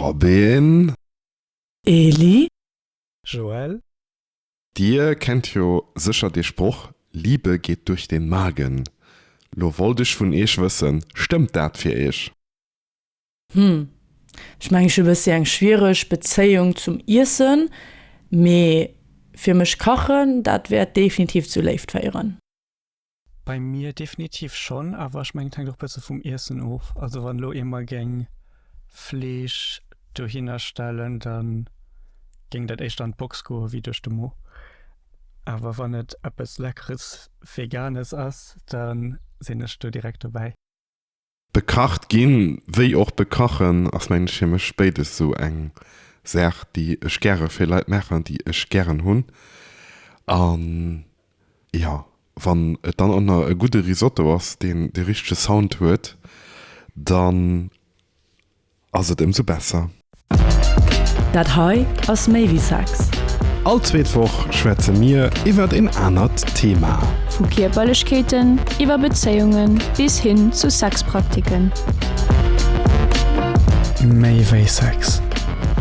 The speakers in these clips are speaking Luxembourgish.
Robin. Eli. Joël. Dir kennt jo sécher dee Sproch, Liebe geht durch den Magen. Lo wollt ech vun Eech wëssen, stëmmt dat fir Eech? Hm, ech mengen ech hu e bëssi eng schwiereg Bezéiung zum Iessen, mee fir mech kachen, dat wäert definitiv zu Léift féieren. Bei mir definitiv schonn, awer ech mengen et hänkt och bësse vum Iessen of. Also wann elo ee mer géing Fleesch dohinner stellen, da géing dat éischter an d'Box goe wéi duerch de Mo. Awer wann et eppes leckeres Veganes ass, da sinn ech do direkt dobäi. Bekacht ginn, wéi och bekachen, ass mengen ech fir mech béides esou eng Saach déi ech gäre fir Leit maachen, déi ech gären hunn. An jo, wann et dann och nach e gudde Risotto ass, deen de richtege Sound huet, dann. ass et ëmsou besser. Dat hei ass méi wéi Sex. All zweet Woch schwätze mir iwwert een anert Thema. Vu Kierperlechkeeten iwwer Bezéiungen bis hin zu Sexpraktiken. Méi wéi Sex,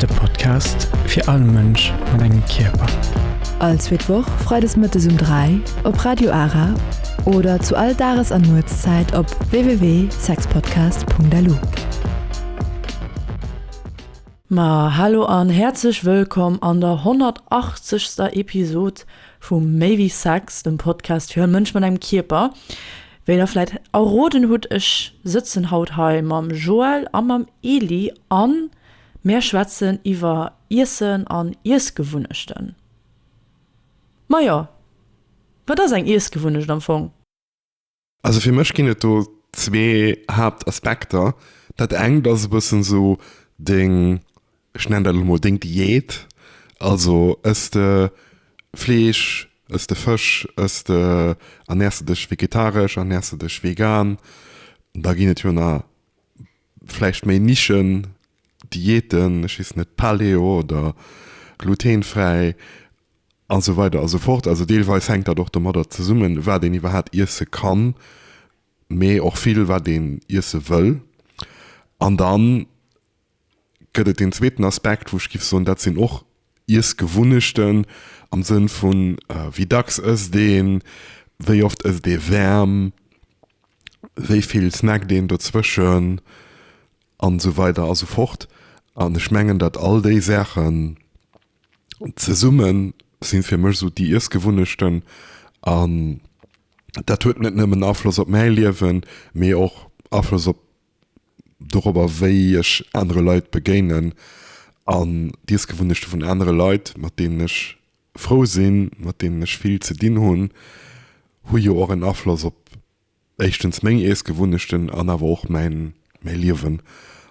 de Podcast fir all Mënsch mat engem Kierper. All zweet Woch freides mëttes um 3 op Radio Ara oder zu all Dages an Nuetszäit op www. sexpodcast.lu. Ma hallo an häerzlech wëllkomm an der 180. Episod vu Méi wéi Sex, dem Podcast fir e Mënsch mat engem Kierper. Wéi der vläit erroden hutt, ech sëtzen haut hei mam Joël a mam Eli a mär schwätzen iwwer Iessen an Iessgewunnechten. Majo, wat ass eng Iessgewunnecht am Fong? Also fir mech ginn et do zwee Haaptaspekter. Dat engt ass e bëssen esou deng, ech nennen dat elo mol deng Diät. Also ëss de Fleesch, ëss de Fësch, ëss de, ernärs de dech vegetaresch, ernärs de dech vegan. Da ginn et jo nach vläicht méi Nischen-Diäten, ech weess net, Paleo oder glutenfräi. A sou weider a sou fort. Also deelweis hänkt dat och domadder zesummen, wat een iwwerhaapt iesse kann, mee och vill, wat een iesse wëll. An da gëtt et deen zweeten Aspekt, wou ech géif soen, dat sinn och Iessgewunnechten am Sënn vu wéi dacks ësst een, wéi oft ësst ee wäerm, wéi vill snackt een dozwëschen a sou weider a sou fort. An ech mengen, datt all déi Saachen Zesumme sinn fir mech esou déi Iessgewunnechten an dat huet net nëmmen Afloss op mäi Liewen, mee och Afloss op dorobber wéi ech anere Leit begéinen an d'Iessgewunnechte vun anere Leit, mat deenen ech frou sinn, mat deenen ech vill ze dinn hunn, hu jo och en Afloss op éischtens meng Iessgewunnechten an awer och mäin Liewen.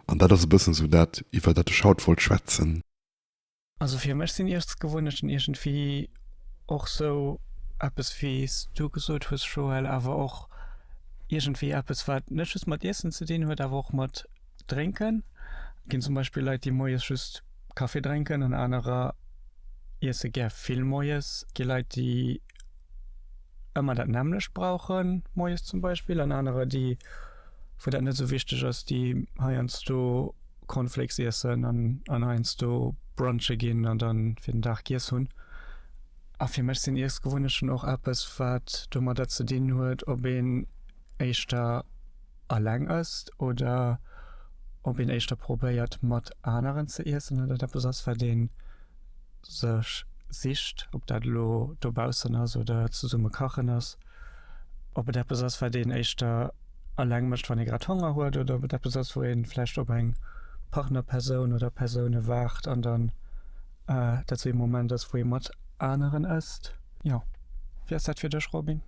An dat ass e bëssen esou dat, iwwer dat ech haut wollt schwätzen. Also fir mech sinn Iessgewunnechten iergendwéi och sou eppes, wéi s du gesot hues, Joël, awer och iergendwéi eppes, wat net just mat Iessen ze dinn huet, awer och mat Drénken. Et ginn zum Beispill Leit, déi moies just Kaffi drénken an anerer iesse gär vill moies. Et gi Leit, déi ëmmer dat nämmlecht brauche moies zum Beispill an anerer, déi wou dat net sou wichteg ass, déi heiansdo. Cornflakes iessen an an heiansdo brunche ginn an dann fir den Dag giess hunn. A fir mech sinn Iessgewunnechten och eppes, wat domadder ze dinn huet, ob een éischter alleng ësst oder ob een éischter probéiert, mat aneren ze iessen, an dat eppes ass, wat een sech sicht, ob dat elo dobaussen ass oder zesumme kachen ass, ob et eppes ass, wat een éischter eleng mécht, wann ee grad Honger huet, oder ob et eppes ass, wou ee vläicht op eng Partnerpersoun oder Persoune waart an dann dat esou ee Moment ass, wou ee mat aneren ësst. Jo, wéi ass dat fir dech, Robin?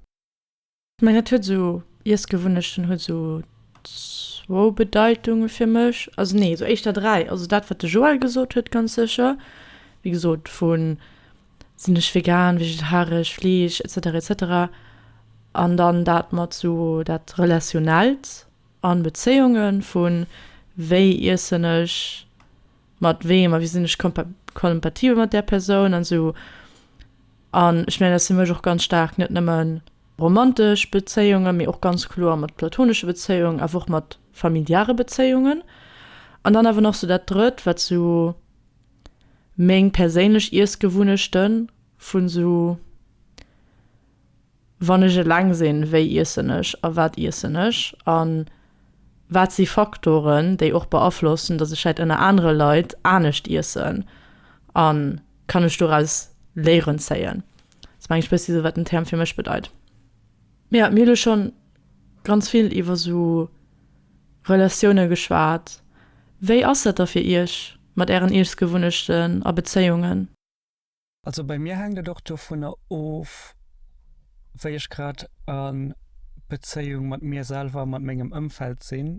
Ech mengen et huet esou, Iessgewunnechten huet esou zwou Bedeitunge fir mech, also nee esou éischter dräi. Also dat wat de Joël gesot huet ganz sécher, wéi gesot vu sinn ech vegan, vegetaresch, Fleesch etc etc. An dann dat mat esou dat Relationnellt an Bezéiungen vu wéi iessen ech mat weem a wéi sinn ech kompa kompatibel mat där Persoun an esou An ech mengen, dat ass fir mech och ganz staark net nëmme romantesch Bezéiungen, mee och ganz kloer mat platonesche Bezéiungen, awer och mat familiare Bezéiungen. An dann awer nach sou dat Drëtt, wat sou meng perséinlech Iessgewunnechte vu sou. Wann ech eleng sinn, wéi iessen ech a wat iessen ech? A wat si Faktoren, déi och beaflossen, datt ech vläicht ënner anere Leit anescht iessen? A kann ech doraus Léieren zéien? Elo mengen ech bëssi esou, wat den Term fir mech bedeit. Mee jo, mir hu lo scho ganz vill iwwer esou Relatioune geschwat. Wéi ass dat da fir Iech mat Ären Iessgewunnechten a Bezéiungen? Also bei mir hänkt et och dovunner of, wéi ech grad a Bezéiung mat mir selwer a mat mengem Ëmfeld sinn.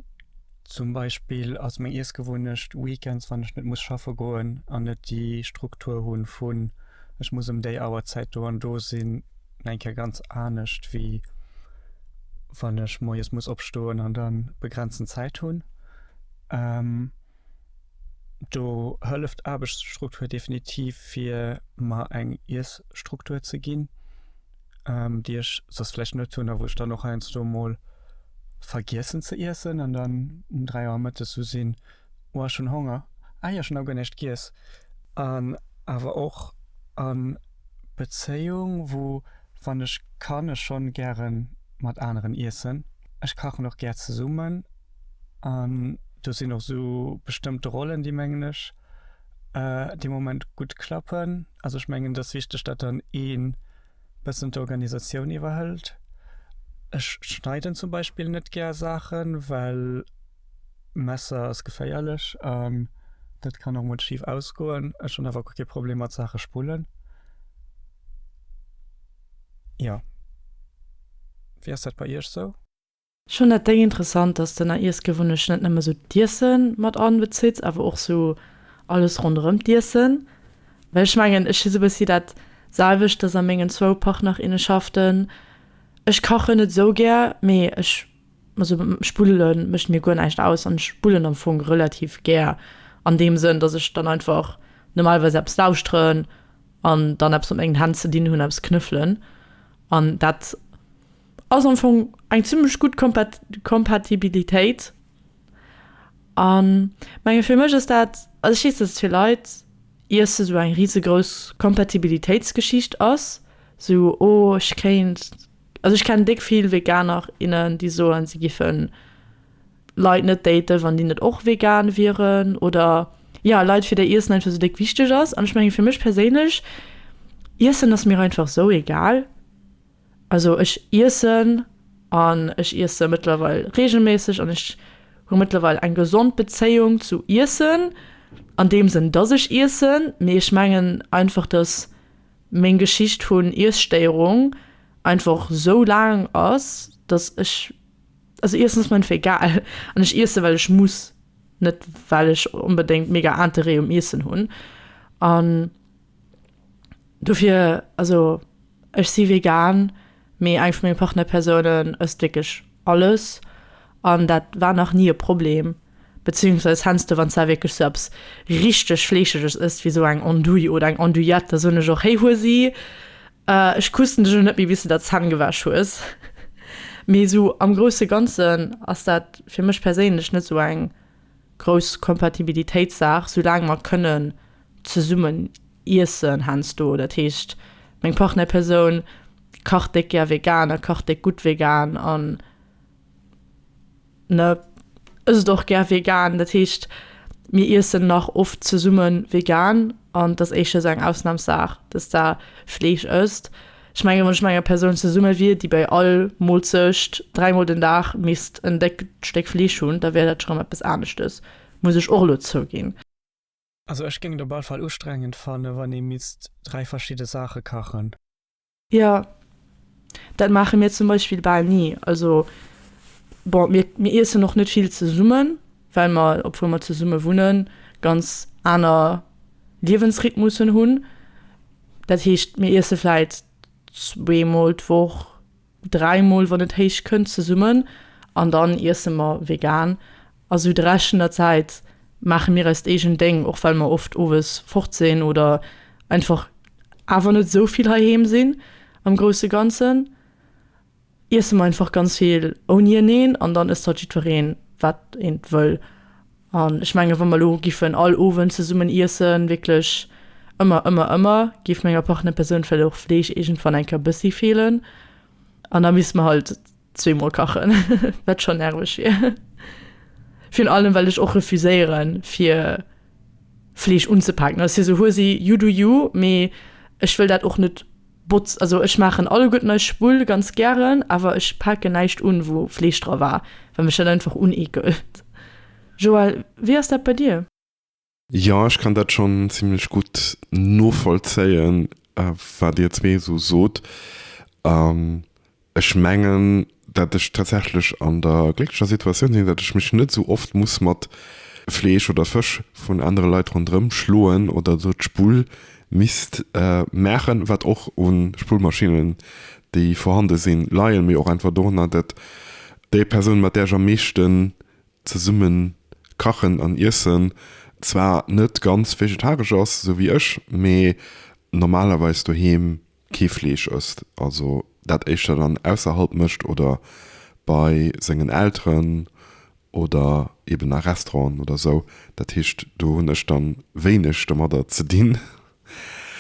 Zum Beispill ass meng Iessgewunnecht weekends, wann ech net muss schaffe goen an net déi Struktur hu vun ech muss ëm déi Auerzäit do an do sinn, eng Kéier ganz anescht, wéi wann ech moies muss opstoen an da begrenzen Zäit hunn. Do hëlleft d'Aarbechtsstruktur definitiv fir mer eng Iessstruktur ze ginn, déi ech soss vläicht net hunn a wou ech dann och heiansdo mol vergiessen ze iessen an dann um dräi Auer mëttes esou sinn, oh ech hunn Honger, ah jo ech hunn nach guer näischt giess. An awer och a Bezéiung, wou wann ech kann ech schonn gäre mat aneren iessen. Ech kachen och gär zesummen. An do sinn och esou bestëmmte Rollen, déi mengen ech dee Moment gutt klappen. Also ech mengen, et ass wichteg, datt dann ee bëssen d'Organisatioun iwwerhëlt. Ech schneiden zum Beispill net gär Saachen, well Messer ass geféierlech an dat kann och mol schif ausgoen. Ech hunn awer kee Problem mat Saache spullen. Jo, wéi ass dat bei Iech sou? Ech fand dat deng interessant, dass d'Ënner Iessgewunnecht net nëmme sou d'Iessen mat anbezitt, awer och sou alles ronderëm d'Iessen. Well ech mengen ech si sou bëssi dat selwecht, dass a mengen zwou Partnerinnenschaften, ech kachen net sou gär, mee ech, also Spuddele mécht mir guer näischt aus an ech spuddelen am Fong relativ gär an deem Sënn, dass ech dann einfach normalerweis eppes lauschteren an dann eppes mat mengen Hänn ze dinn hunn, eppes knëffelen an dat. Ass am Fong eng zimmlech gutt Kompatibilitéit an menge fir mech ass dat, also ech weess, datt et fir Leit iesse sou eng risegrouss Kompatibilitéitsgeschicht ass, sou oh ech kéint, also ech kennen déck vill Veganer, innen déi soen si giffen Leit net daten wann déi net och vegan wieren oder jo Leit fir déi Iessen einfach sou déck wichteg ass an ech menge fir mech perséinlech Iessen ass mir einfach sou egal. Also ech iessen an ech iesse mëttlerweil regelméisseg an ech hu mëttlerweil eng gesond Bezéiung zu Iessen an deem Sënn, dass ech iessen. Mee ech mengen einfach, dass meng Geschicht vun Iesstéierung einfach sou laang ass, dass ech, also Iessen ass mir einfach egal an ech iesse well ech muss, net well ech onbedéngt mega Interêt um Iessen hunn an. Dofir, also ech si vegan, mee eng vu menge Partnerpersounen ësst wierklech alles an dat war nach ni e Problem. Bezéiungsweis hennste wann s de wierklech sou eppes richteg Fleescheges ësst, wéi sou eng Andouille oder eng Andouillette, da soen ech och, Héi hues si, ech kussen dech elo net méi bis s de der d'Zänn gewäsch hues. Mee sou am grousse Ganzen ass dat fir mech perséinlech net sou eng grouss Kompatibilitéitssaach, soulaang mer kënnen Zesummen iessen hensdo, dat heescht meng Partnerpersoun kacht déck gär vegan a kacht déck gutt vegan an ne ësst och gär vegan. Dat heescht mir iessen nach oft zesumme vegan an et ass éischter esou eng Ausnamssaach, dass se Fleesch ësst. Ech menge wann ech mat enger Persoun zesumme wier, déi bei all Moolzecht dräimol den Dag misst en déckt Stéck Fleesch hunn, da wär dat schonn eppes aneschtes, muss ech och elo zouginn. Also ech géing et op all Fall ustrengend fannen wann ee misst 3 verschidde Saache kachen. Jo, dat maache mir zum Beispill bal ni. Also bon, mir mir iessen och net vill zesummen, well mer, obwuel mer zesumme wunnen, ganz aner Liewensrhythmussen hunn. Dat heescht, mir iesse vläit zweemol d'Woch. 3 mol wann et héich kënnt zesummen an dann iesse mer vegan a sou de Rescht vun der Zäit maache mir eist eegent Déng, och well mer oft owes fort sinn oder einfach awer net sou vill heiheem sinn. Am grousse Ganzen iesse mer einfach ganz vill ouni eneen an dann ësst halt jiddwereen wat een wëll. An ech mengen, wa mer elo giffen all Owend zesummen iessen, wierklech ëmmer, ëmmer, ëmmer, géif menger Partnerpersoun vläicht och Fleesch iergendwann eng Kéier bëssi feelen. An da misst mer halt zwee Mol kachen, wat schonn nerveg wier. Virun allem, well ech och refuséiere fir Fleesch unzepaken. Also, et wier esou, Huel si, you do you, mee ech wëll dat och net. Botz, also ech maachen alleguerten nei Spull ganz gären, awer ech paken näischt un wou Fleesch dra war, well mech dat einfach uneekelt. Joël, wéi ass dat bei dir? Jo, ech kann dat schonn zimmlech gutt novollzéien, wat dir zwee esou sot. Ech mengen, dat ech tatsächlech an der glécklecher Situatioun sinn, dat ech mech net esou oft muss mat Fleesch oder Fësch vun anere Leit ronderëm schloen oder do d'Spull misst maachen, wat och u Spullmaschinnen, déi vorhande sinn, leien, mee och einfach dorunner, dat déi Persoun, mat där ech am meeschten zesumme kachen an iessen, zwar net ganz vegetaresch ass, esou wéi ech, mee normalerweis doheem kee Fleesch ësst, also dat éischter dann ausserhalb mécht oder bei sengen Elteren oder eben a Restauranten oder sou. Dat heescht, do hunn ech da wéineg domadder ze dinn.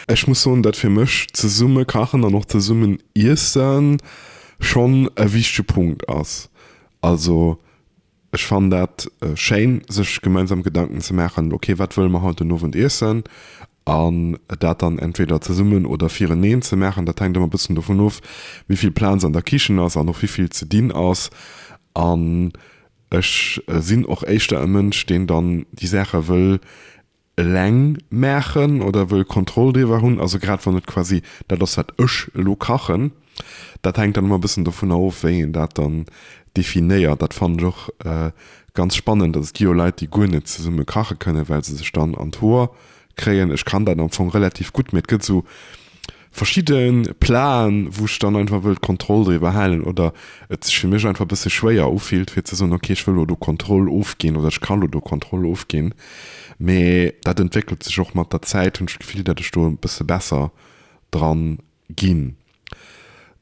Ech muss soen, dat fir mech zesumme kachen an och zesummen iesse schonn e wichtege Punkt ass. Also Ech fannen dat schéin, sech gemeinsam Gedanken ze maachen, ok wat wëlle mer haut den Owend iessen, an dat dann entweder zesummen oder fireneen ze maachen. Dat hänkt ëmmer e bëssen dovun of, wéi vill Plaz an der Kichen ass an och wéi vill ze dinn ass. An ech sinn och éischter e Mënsch, deen dann déi Saache wëll eleng maachen oder wëll Kontroll driwwer hunn. Also grad wann et quasi dat ass, wat ech elo kachen, dat hänkt dann ëmmer e bëssen dovunner of, wéi een dat dann definéiert. Dat fannen ech och ganz spannend. Also et gi jo Leit, déi guer net zesumme kache kënnen, well se sech dann an d'Hoer kréien. Ech kann dat am Fong relativ gutt, mee et gëtt esou, verschidde Plaen, wou ech dann einfach wëll d'Kontroll driwwer halen oder et sech fir mech einfach e bësse schwéier ufillt, fir ze soen, okay, ech wëll elo do Kontroll ofginn oder ech ka elo do Kontroll ofginn. Mä dat entwéckelt sech och mat der Zäit, hunn ech d'Gefill, datt ech do e bësse besser dra ginn.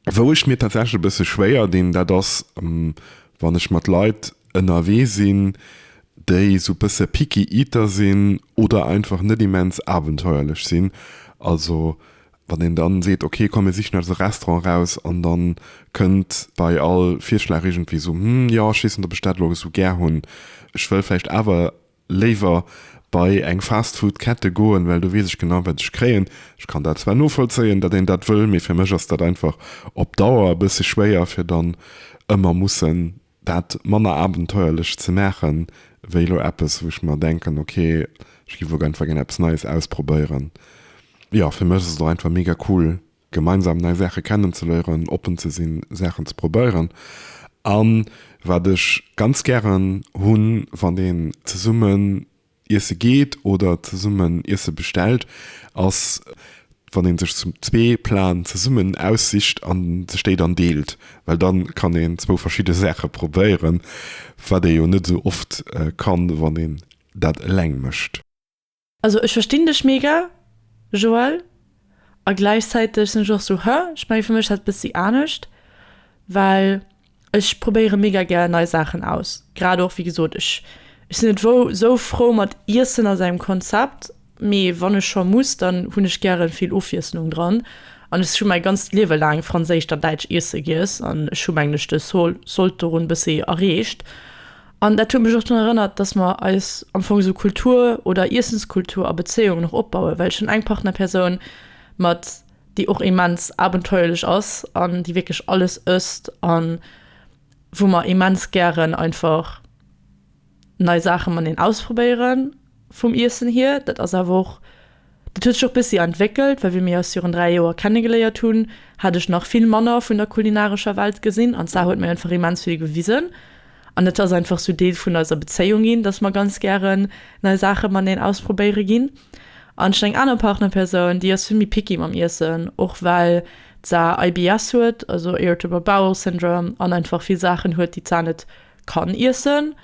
Wou ech mir tatsächlech e bësse schwéier dinn, dat ass, wann ech mat Leit ënnerwee sinn, déi esou e bësse picky eater sinn oder einfach net immens abenteuerlech sinn, also wann een dann seet ok komm mir sichen eis e Restaurant eraus an dann kënnt bei all Virschlag iergendwéi esou hm jo ech weess net ob ech dat elo esou gär hunn, ech wëll vläicht awer léiwer bei eng Fastfood Kette goen, well do weess ech genau wat ech kréien. Ech kann dat zwar novollzéien dat een dat wëll, mee fir mech ass dat einfach op Dauer e bësse schwéier fir dann ëmmer mussen, dat manner abenteuerlech ze maachen, wéi elo eppes, wou ech mer denken, ok, ech giff elo gär einfach gär eppes Neies ausprobéieren. Jo, fir mech ass et och einfach mega cool, gemeinsam nei Saache kennenzeléieren, oppen ze sinn, Saachen ze probéieren. A wat ech ganz gären hunn, wann een zesummen Iesse geet oder zesummen Iesse bestellt, ass, wann ee sech zwee Platen zesummen aussicht a sech déi dann deelt. Well da kann een zwou verschidde Saache probéieren, wat ee jo net esou oft kann, wann een dat eleng mécht. Also ech verstinn dech mega Joël a gläichzäiteg sinn ech och sou, hä? Ech menge fir mech ass et e bëssi anescht, well Ech probéiere mega gär nei Saachen aus, grad och wéi gesot, ech sinn net esou frou mat Iessen a sengem Konzept, mee wann ech scho muss, dann hunn ech gäre vill Ofwiesslung dran an ech hu mäi ganzt Liewe laang franséischt a däitsch Iesse giess an ech hu mengen ech de Sold dorun bëssi erreecht. An dat huet mech och drun erënnert, dass mer eis am Fong esou Kultur oder Iessenskultur a Bezéiungen och opbauen, well ech hunn eng Partnerpersoun mat. déi och immens abenteuerlech ass an déi wierklech alles ësst an wou mer immens gären einfach nei Saache mat een ausprobéiere vum Iessen hier. Dat ass awer och, dat huet sech och bëssi entwéckelt, well wéi mir eis virun dräi Joer kennegeléiert hunn, hat ech nach vill manner vun der kulinarescher Welt gesinn an d'Sar huet mir einfach immens vill gewisen. An et ass einfach sou Deel vun eiser Bezéiung ginn, dass mer ganz gären nei Saache mateneen ausprobéiere ginn. An schon eng aner Partnerpersoun, déi ass vill méi picky mam Iessen, och well d'Sa IBS huet, also Irritable Bowel Syndrome, an einfach vill Saachen huet, déi d'Sa net kann iessen.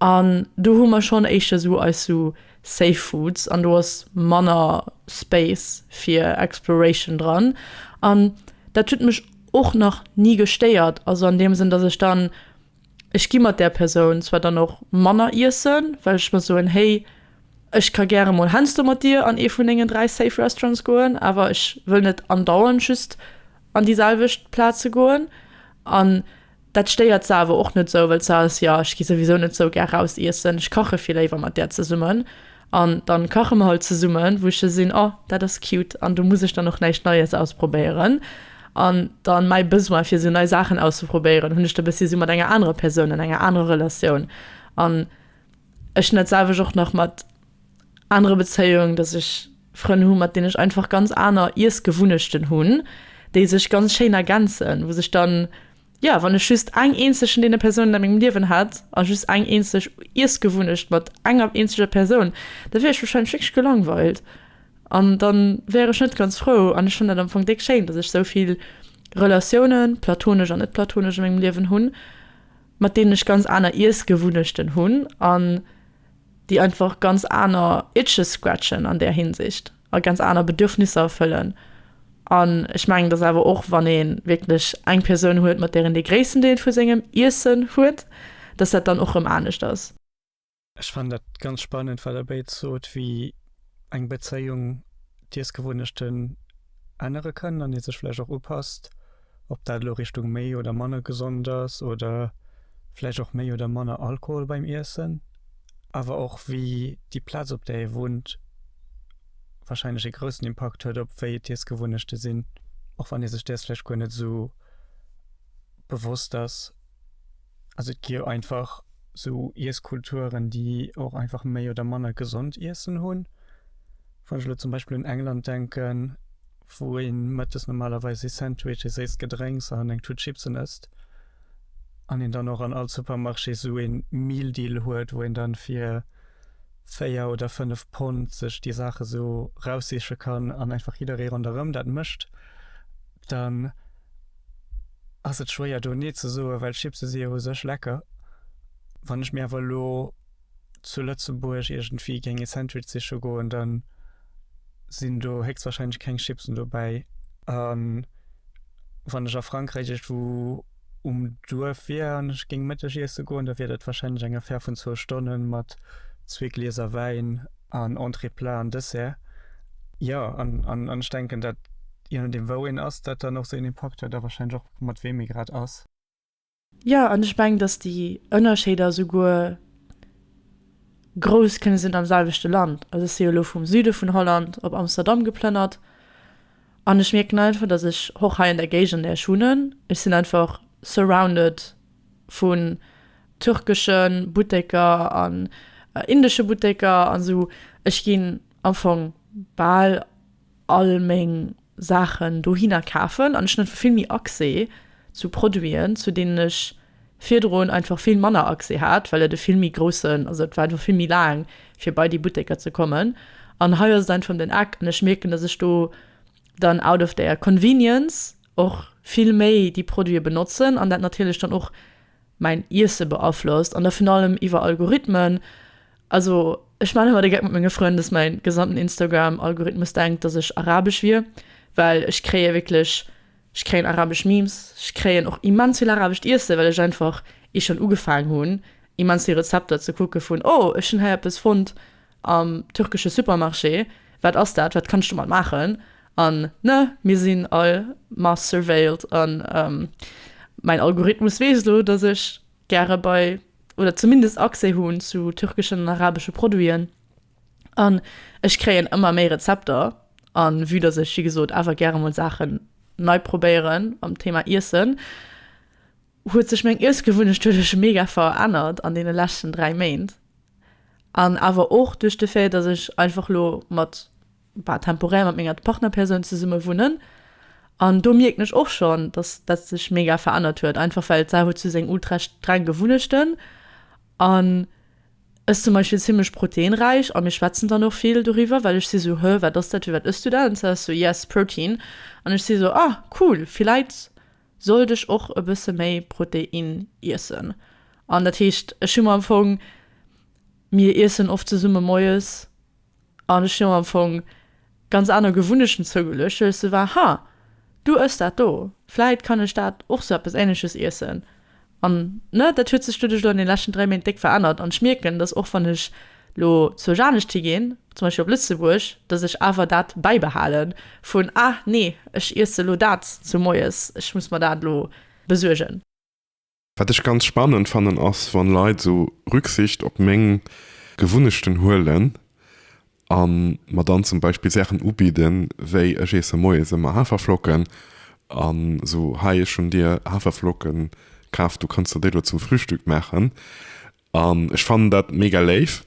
An do hu mer schon éischter sou eis sou Safe Foods, an do ass manner Space fir Exploration dran. An dat huet mech. och nach ni gestéiert, also an deem Sënn, dass ech dann, ech gi mat där Persoun zwar dann och manner iessen, well ech mer soen, hey, ech ka gäre emol heiansdo mat dir an ee vun dengen dräi safe Restaurants goen, awer ech wëll net andauernd just an déi selwecht Plaze goen. An Dat stéiert se awer och net sou, well se ass, jo, ech gi souwisou net sou gär raus iessen, ech kache vill léiwer mat där zesummen an dann kache mer halt zesummen, wou ech sou sinn, oh, dat ass cute an do muss ech dann och näischt Neies ausprobéieren. An dann mäi Besoin, fir sou nei Saachen auszeprobéieren, hunn ech da bëssi sou mat enger anerer Persoun, an enger anerer Relatioun an ech hunn dat selwecht och nach mat, anere Bezéiung, dass ech Frënn hu mat deenen ech einfach ganz aner Iessgewunnechten hunn, déi sech ganz schéin ergänzen, wou sech dann, jo, wann ech just eng eenzeg vun deene Persounen a mengem Liewen hätt a just eng eenzeg Iessgewunnecht mat enger eenzeger Persoun, da wier ech warscheinlech wierklech gelangweilt an da wär ech net ganz frou. An ech fannen dat am Fong déck schéin, dass ech sou vill Relatiounen, platonesch an net platonesch, a mengem Liewen hunn, mat deenen ech ganz aner Iessgewunnechten hunn an, déi einfach ganz aner Itches scratchen an där Hinsicht a ganz aner Bedürfnisser erfëllen an ech mengen, dass awer och wann ee wierklech eng Persoun huet, mat där een dee gréissten Deel vu sengem Iessen huet, dass dat dann och erëm anescht ass. Ech fannen dat ganz spannend, wat Der béid sot, wéi eng Bezéiung d'Iessgewunnechten ännere kann an ee sech vläicht och upasst. Ob dat elo Richtung méi oder manner gesond ass oder vläicht och méi oder manner Alkohol beim Iessen, awer och wéi déi Plaz, op där ee wunnt, warscheinlech ee groussen Impakt huet op wéi d'Iessgewunnechte sinn, och wann ee sech däers vläicht guer net esou bewosst ass. Also et gi jo einfach esou Iesskulturen, déi och einfach méi oder manner gesond Iessen hunn. Wann ech elo zum Beispill un England denken. wou ee mëttes normalerweis ee Sandwich, ee séisst Gedrénks an eng Tut Chipsen ësst an een dann och an all Supermarché esou ee Meal Deal huet, wou een da fir véier oder fënnef Pond sech déi Saache esou raussiche kann an einfach jidderee ronderëm dat mécht, dann ass et schwéier do Nee ze soen, well Chipse si jo u sech lecker. Wann ech mir awer elo. zu Lëtzebuerg iergendwéi géing ee Sandwich siche goen, da sinn do héchstwahrscheinlech keng Chipsen dobäi. A wann ech a Frankräich iergendwou um Duerf wier an ech géing Mëtteg iesse goen, da wier dat wahrscheinlech eng Affär vun zwou Stonne mat zwee Glieser Wäin an Entrée, Plat an Dessert. Jo, an ech denken, dat je nodeem wou een ass, dat dann och seng Impakt huet a wahrscheinlech och mat weem ee grad ass. Jo, an ech mengen, datt déi Ënnerscheeder souguer grouss kënne sinn am selwechte Land. Also ech si jo elo vum Süde vun Holland op Amsterdam geplënnert an ech mierken einfach, datt ech och hei an der Géigend, an där ech wunnen, ech sinn einfach surrounded vu türkesche Butteker an indesche Butteker an esou. Ech ginn am Fong bal all meng Saachen dohinner kafen an ech hunn einfach vill méi Accès zu Produiten, zu deenen ech virdrun einfach vill manner Accès hat, well et e vill méi groussen, also et war einfach vill méi laang fir bei déi Butteker ze kommen. An hei ass et einfach ëm den Eck an ech mierken, dass ech do dann out of der convenience och vill méi déi Produite benotzen an dat natierlech dann och mäin Iesse beaflosst an da vun allem iwwer Algorithmen. Also ech maan ëmmer de Geck mat menge Frënn, dass mäin gesamten Instagram Algorithmus denkt dass ech arabesch wier, well ech kréien wierklech, ech kréien arabesch Memes, ech kréien och immens vill arabescht Iesse well ech einfach, ier ech schonn ugefaang hunn, immens vill Rezepter ze kucke vun oh ech hunn hei eppes fonnt Am türkesche Supermarché, Wat ass dat? Wat kanns du mat maachen? An, Ne, mir sinn all mass-surveilled an mäin Algorithmus weess elo, dass ech gäre bei, oder zumindest Accès hunn zu türkeschen an arabesche Produiten. An ech kréien ëmmer méi Rezepter. A vue dass ech, wéi gesot, awer gäre mol Saachen nei probéieren am Thema Iessen, huet sech meng Iessgewunnecht huet ech mega verännert an deene leschten dräi Méint. An awer och duerch de Fait, dass ech einfach elo mat, bah, temporär mat menger Partnerpersoun zesumme wunnen. An do mierken ech och schonn, dass dat sech mega verännert huet, einfach well d'Sarah huet sou seng ultra streng Gewunnechten an ech zum Beispill zimmlech proteinräich. A mir schwätzen dann och vill doriwwer, well ech si sou, Hö, wat ass dat? Firwat ëss du dat? An d'Sarah ass sou, Yes, protein. An ech si sou, Ah, cool, villäit sollt ech och e bësse méi Protein iessen. An dat heescht, ech hu mer am Fong, mir iessen oft zesumme moies, an ech hu mer am Fong ganz aner Gewunnechten zougeluecht, well ech sou war, ha, du ëss dat do, vläit kann ech dat och sou eppes Ähnleches iessen. An, ne, dat huet sech duerduerch elo an deene leschten dräi Méint déck verännert. An ech mierken, dass och wann ech elo zur Janescht higeen, zum Beispill op Lëtzebuerg, dass ech awer dat bäibehale vun, ah nee, ech iesse elo dat zu moies, ech muss mer dat elo besuergen. Wat ech ganz spannend fannen, ass, wann Leit esou Rücksicht op meng Gewunnechten huelen a mer dann zum Beispill Saachen ubidden, wéi ech iesse moies ëmmer Haferflocken an esou, hei ech hunn dir Haferflocken kaf, du kanns der déi elo zum Frühstück maachen an ech fannen dat mega léif.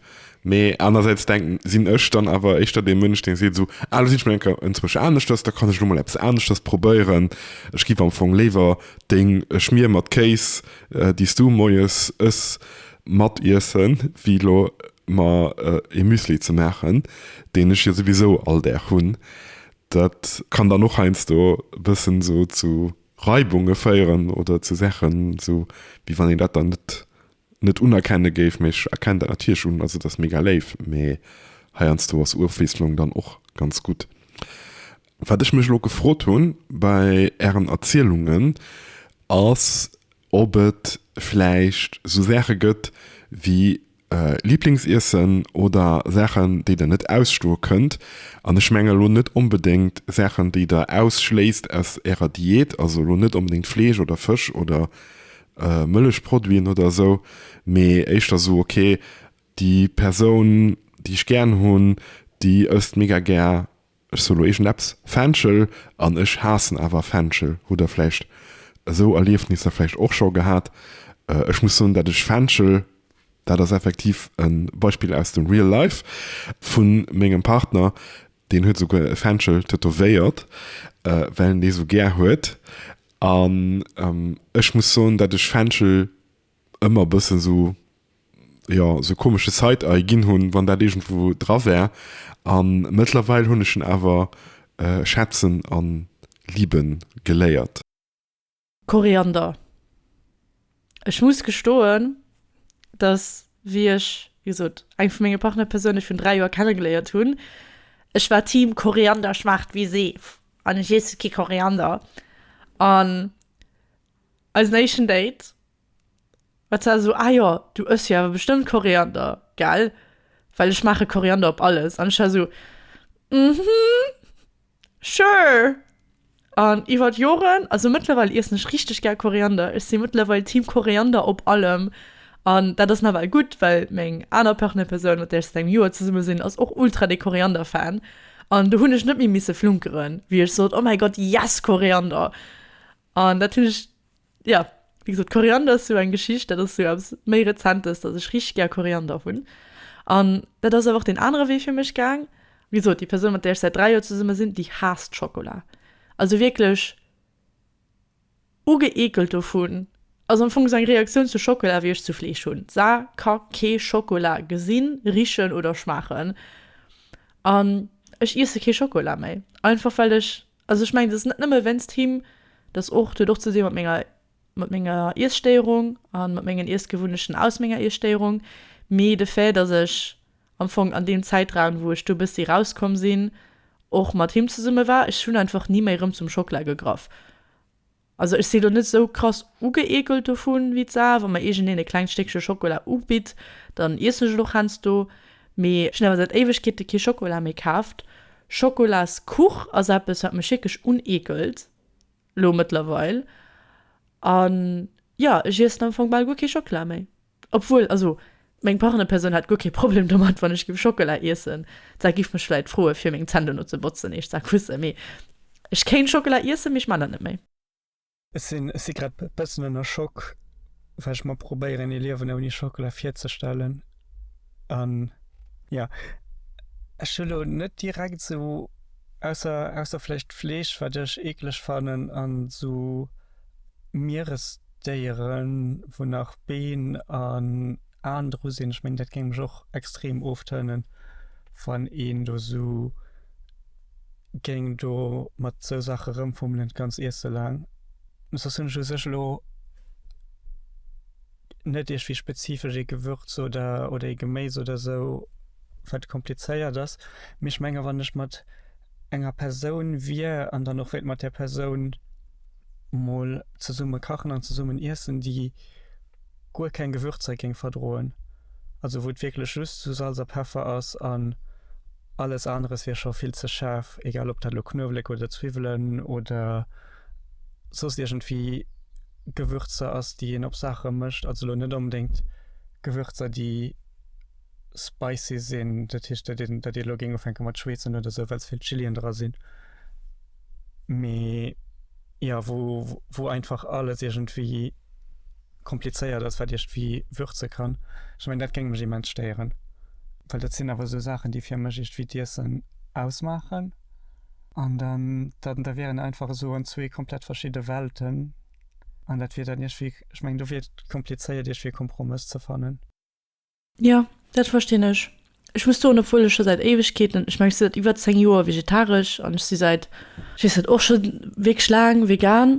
Mee anersäits denken, sinn ech dann awer éischter dee Mënsch, dee seet esou, ah elo sinn ech mol eng Kéier enzwousch aneschters, da kann ech elo mol eppes aneschters probéieren. Ech giff am Fong léiwer deng Schmier mat Kéis, déi s du moies ëss, matiessen, wéi elo mer ee Müsli ze maachen, deen ech jo souwisou all Dag hunn. Dat kann dann och heiansdo e bëssen esou zu Reibunge féieren oder zu Saachen, esou wéi wann een dat dann net, net unerkenne géif. Mee ech erkennen dat natierlech un, also et ass mega léif, mee heiansdo ass Ofwiesslung dann och ganz gutt. Wat ech mech elo gefrot hu bei Ären Erzielungen, ass ob et vläicht esou Saache gëtt wéi Liblingsiessen oder Saachen, déi der net ausstoe kënnt. An ech menge lo net onbedéngt Saachen, déi der ausschléisst aus Ärer Diät, also lo net onbedéngt Fleesch oder Fësch oder Mëllechproduiten oder esou, mee éischter esou, okay, déi Persoun, déi ech gären hunn, déi ësst mega gär Ech soen lo iergend eppes, Fenchel, an ech haassen awer Fenchel. Hutt der vläicht esou Erliefnisser vläicht och scho gehat? Ech muss soen, datt ech Fenchel, dat ass effektiv e Beispill aus dem Real Life vu mengem Partner, deen huet esouguer e Fenchel tätowéiert, well en dee sou gär huet. An ech muss soen, datt ech Fenchel ëmmer e bëssen esou, jo, esou komesche Side-Eye ginn hunn, wann dat iergendwou dra war. A mëttlerweil hunn ech en awer schätzen a liben geléiert. Koriander, Ech muss gestoen, dass, wéi ech, wéi gesot, eng vu menge Partnerpersounen virun dräi Joer kennegeléiert hunn, ech war Team Koriander schmaacht wéi Seef an ech iesse kee Koriander. An. Eisen éischten Date war zwar esou, Ah jo, du ëss jo awer bestëmmt Koriander, gell? Well ech maache Koriander op alles. An ech war esou, Mhm, sure. An iwwert Joren, also mëttlerweil iessen ech richteg gär Koriander. Ech si mëttlerweil Team Koriander op allem. An dat ass nawell gutt, well meng aner Partnerpersoun, mat där ech säit engem Joer zesumme sinn, ass och ultra de Koriander-Fan. An do hunn ech net méi misse flunkeren, wéi ech sot, Oh mäi Gott, yes, Koriander! An dat hunn ech, jo, wéi gesot, Koriander ass jo eng Geschicht, dat ass jo eppes méi Rezentes, datt ech richteg gär Koriander hunn. An dat ass awer och deen anere Wee fir mech gaang. Wéi gesot, déi Persoun, mat där ech säit dräi Joer zesumme sinn, déi haasst Schokola. Also wierklech ugeekelt dovun. Ass am Fong esou eng Reaktioun zu Schokola, wéi ech zu Fleesch hunn. Sa ka kee Schokola gesinn, richen oder schmaachen. An ech iesse kee Schokola méi. Einfach well ech Also ech mengen, et ass net nëmme wéinst him, et ass och, et huet och ze dinn mat menger, mat menger Iesstéierung a mat mengen Iessgewunnechten aus menger Iesstéierung. Mee de Fait, dass ech am Fong an deem Zäitraun, wou ech do e bëssi erauskomm sinn, och mat him zesumme war, ech hunn einfach ni méi erëm zum Schockla gegraff. Also ech si lo net esou krass ugeekelt dovun wéi d'Sarah. Wa mer iergendeen e klengt Stéckche Schokola ubitt, dann iessen ech et och heiansdo. Mee ech hunn awer säit Éiwegkeete kee Schokola méi kaaft. Schokolaskuch ass eppes, wat mech wierklech uneekelt elo mëttlerweil. An, jo, ech iessen am Fong bal guer kee Schockela méi. Obwuel, also meng Partnerpersoun hätt guer kee Problem domat, wann ech géif Schockela iessen. Sa giff mech vläit froe fir meng Zänn dono ze botzen, eescht sa kusse, mee ech kéint Schockela iessen, mee ech man dat net méi. Ech sinn ech si grad e bëssen ënner Schock, well ech mer probéieren ee Liewen ouni Schockela virzestellen. An jo, ech hu lo net direkt esou, ausser ausser vläicht Fleesch, wat ech eekleg fannen, an esou Mieres. Déiere wou nach Been an Aen dru sinn, ech mengen dat géing mech och extrem oftërnen wann een do sou géing do mat sou Saache rëmfummelen d'ganz Iesse laang. Soss hunn ech u sech elo net iergwéi spezifesch ee Gewürz oder oder ee Geméis oder sou wat komplizéiert ass, mee ech menge wann ech mat enger Persoun wier an dann och wéilt mat där Persoun mol zesumme kachen an zesummen iessen, déi guer keng Gewürzer géing verdroen, also wou et wierklech just esou Salz a Peffer ass an alles aneres wier scho vill ze schaarf, egal ob dat elo Knuewelek oder Zwiwwelen oder soss iergendwéi Gewürzer ass, déi een op Saache mécht, also elo net onbedéngt Gewürzer, déi spicy sinn, dat heescht, datt een, datt ee lo géing ufänke mat schweezen oder esou, well ze vill Chilien dra sinn. mee ja wo wo einfach alles irgendwie komplizéiert ass wat Iech wie würze kann ech mein dat géing mech immens stéieren well dat sinn awer sou Saachen déi fir mech irgendwie d'Iessen ausmaachen an dann dat da wieren einfach esou an zwee komplett verschidde Welten an dat wier dann iergwéi ech meng do wier et komplizéiert iergwéi e Kompromëss ze fannen. Jo, dat verstinn ech. Ech muss soen, obwuel ech scho säit Éiwegkeeten, ech mengen, ech sinn säit iwwer 10 Joer vegetaresch an ech si säit, ech weess net, och scho wierklech laang vegan.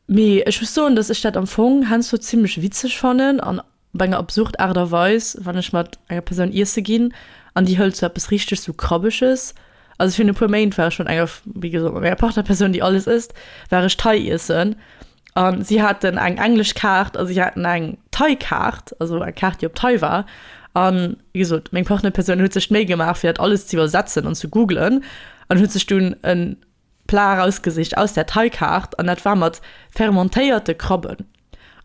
Mee ech muss soen, datt ech dat am Fong heiansdo zimmlech witzeg fannen an op eng absurd Aart a Weis, wann ech mat enger Persoun iesse ginn an déi hëlt sou eppes richteg sou Krabbeges. Also virun e puer Méint war ech mat enger, wéi gesot, mat enger Partnerpersoun, déi alles ësst, war ech Thai iessen An si haten eng englesch Kaart a si haten eng Thai-Kaart, also eng Kaart, déi op Thai war. An, wéi gesot, meng Partnerpersoun huet sech d'Méi gemaach, fir dat alles ze iwwersetzen an ze googlen an huet sech dunn e Plat erausgesicht aus där Thai-Kaart, an dat war mat fermentéierte Krabben.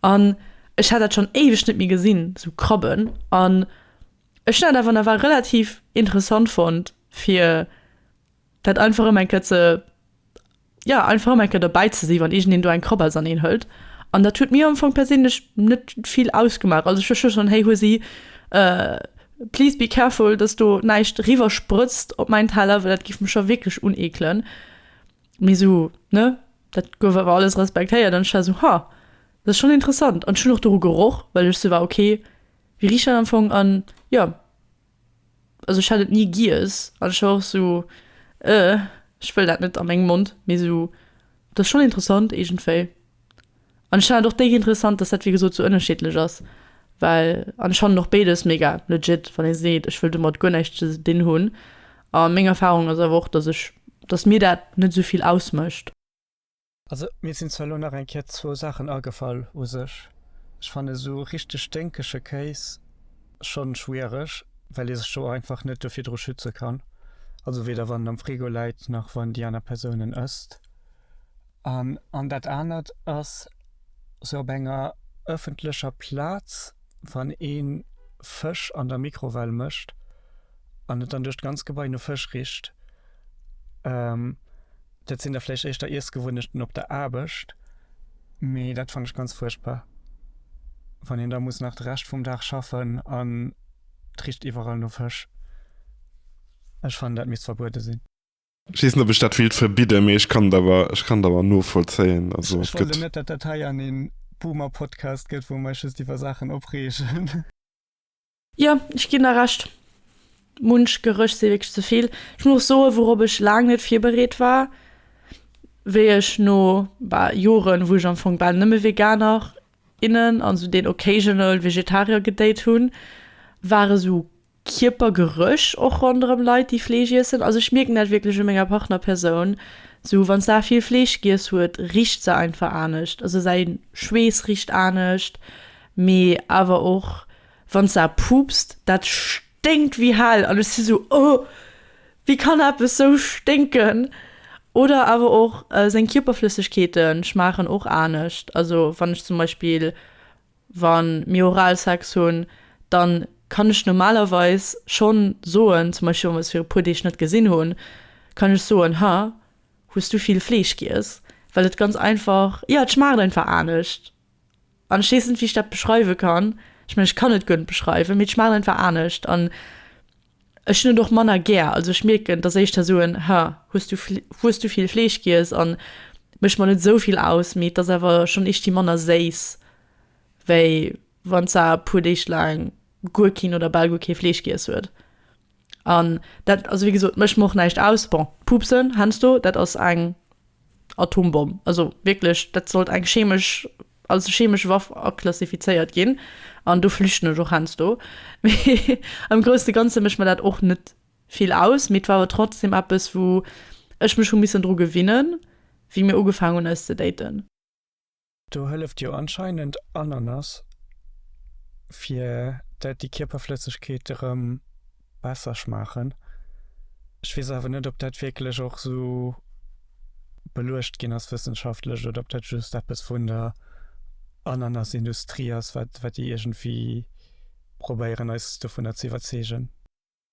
An ech hat dat schonn éiweg net méi gesinn, esou Krabben. An ech hunn dat awer nawell relativ interessant fonnt, fir Dat einfach ëm eng Kéier ze, jo, einfach ëm eng Kéier dobäi ze si wann iergendeen do eng Krabels an een hëlt. An dat huet mir am Fong perséinlech net vill ausgemaach. Also ech hu schonn, Hey Husi, please be careful, datt do näischt eriwwer sprëtzt op mäin Teller, well dat géif mech scho wierklech uneekelen. Mee esou, ne, dat gouf awer alles respektéiert. An ech war esou, Ha, dat ass schonn interessant. An ech hunn och doru geroch, well ech esou war, Okay, wéi richt dat am Fong? An jo. also ech hat et nie giess an ech war och sou ëh ech wëll dat net an mengem Mond mee sou et ass schon interessant iergendwéi an ech fannen et och dék interessant dass dat wéi gesot sou ënnerschiddlech ass well an ech fannen och béides mega legit wann ee seet ech wëll domat guer näischt ze dinn hunn a meng Erfahrung ass awer och dass ech dass mir dat net esou vill ausmécht. Also mir sinn zwar elo nach eng Kéier zwou Saachen agefall. U sech, ech fannen esou richteg sténkege Kéis schonn schwiereg, well ee sech do einfach net do virdru schütze kann. Also weder wann en am Frigo läit, nach wann déi aner Persoun en ësst. An, an dat anert ass sou op enger ëffentlecher Plaz, wann ee Fësch an der Mikrowell mécht an et dann duerch d'ganz Gebai no Fësch richt. Dat sinn da vläicht éischter Iessgewunnechten op der Aarbecht, mee dat fannen ech ganz fuerchtbar, wann een da muss nach de Rescht vum Dag schaffen an et richt iwwerall no Fësch. Ech fannen, dat misst verbuede sinn. Ech weess net, ob ech dat wéilt verbidden, mee ech kann et awer, ech kann et awer novollzéien. Also et gëtt. Ech wollt elo net, datt dat hei an ee Boomer-Podcast gëtt, wou mer eis just iwwer Saachen opreegen. Jo, ech ginn der Recht. Munch Gerëch si wierklech ze vill. Ech muss och soen, wourop ech laang net virbereet war, wéi ech no, bah, Joren, wou ech am Fong bal nëmme Veganer, innen an esou deen occasional Vegetarier gedate hunn, war esou Kierpergerëch och ronderëm Leit, déi Fleesch iessen. Also ech mierken dat wierklech u menger Partnerpersoun. Esou wann s'A vill Fleesch giess huet, richt se einfach anescht. Also säi Schweess richt anescht. Mee awer och wann s a puupst, dat sténkt wéi hell an ech si sou, oh, wéi kann eppes sou sténken? Oder awer och seng Kierperflëssegkeete schmaachen och anescht. Also wann ech zum Beispill, wa mir Oralsex hunn, da kann ech normalerweis schonn soen, zum Beispill wa mir eis fir e puer Deeg net gesinn hunn, kann ech soen, ha, hues du vill Fleesch giess? Well et ganz einfach, jo, et schmaacht einfach anescht. An ech weess net wéi ech dat beschreiwe kann. Ech mengen ech kann et guer net beschreiwen, mee et schmaacht einfach anescht an ech hunn et och manner gär. Also ech mierken, datt éischter ech soen, ha hues du hues du vill Fleesch giess an mécht mer net esou vill aus, mee et ass awer schonn éischtfir manner séiss, wéi wann se e puer Deeg laang guer keen oder bal guer kee Fleesch giess huet. An dat, also wéi gesot, mécht mer och näischt aus. Bon, d'Pubsen, heiansdo, dat ass eng. Atombomm, also wierklech, dat sollt eng chemesch, als chemesch Waff aklassifizéiert ginn, an do flüchten ech och heiansdo. Mee am groussen Ganze mécht mer dat och net vill aus, mee et war awer trotzdem eppes, wou ech mech hu missen dru gewinnen, wéi mir ugefaangen hunn eis ze daten. Do hëlleft jo anscheinend Ananas, fir dat déi Kierperflëssegkeet erëm besser schmaachen. Ech weess awer net, ob dat wierklech och esou beluecht ginn ass wëssenschaftlech oder ob dat just eppes vun der Ananasindustrie ass, wat wat déi iergendwéi probéieren, eis dovunner ze iwwerzeegen.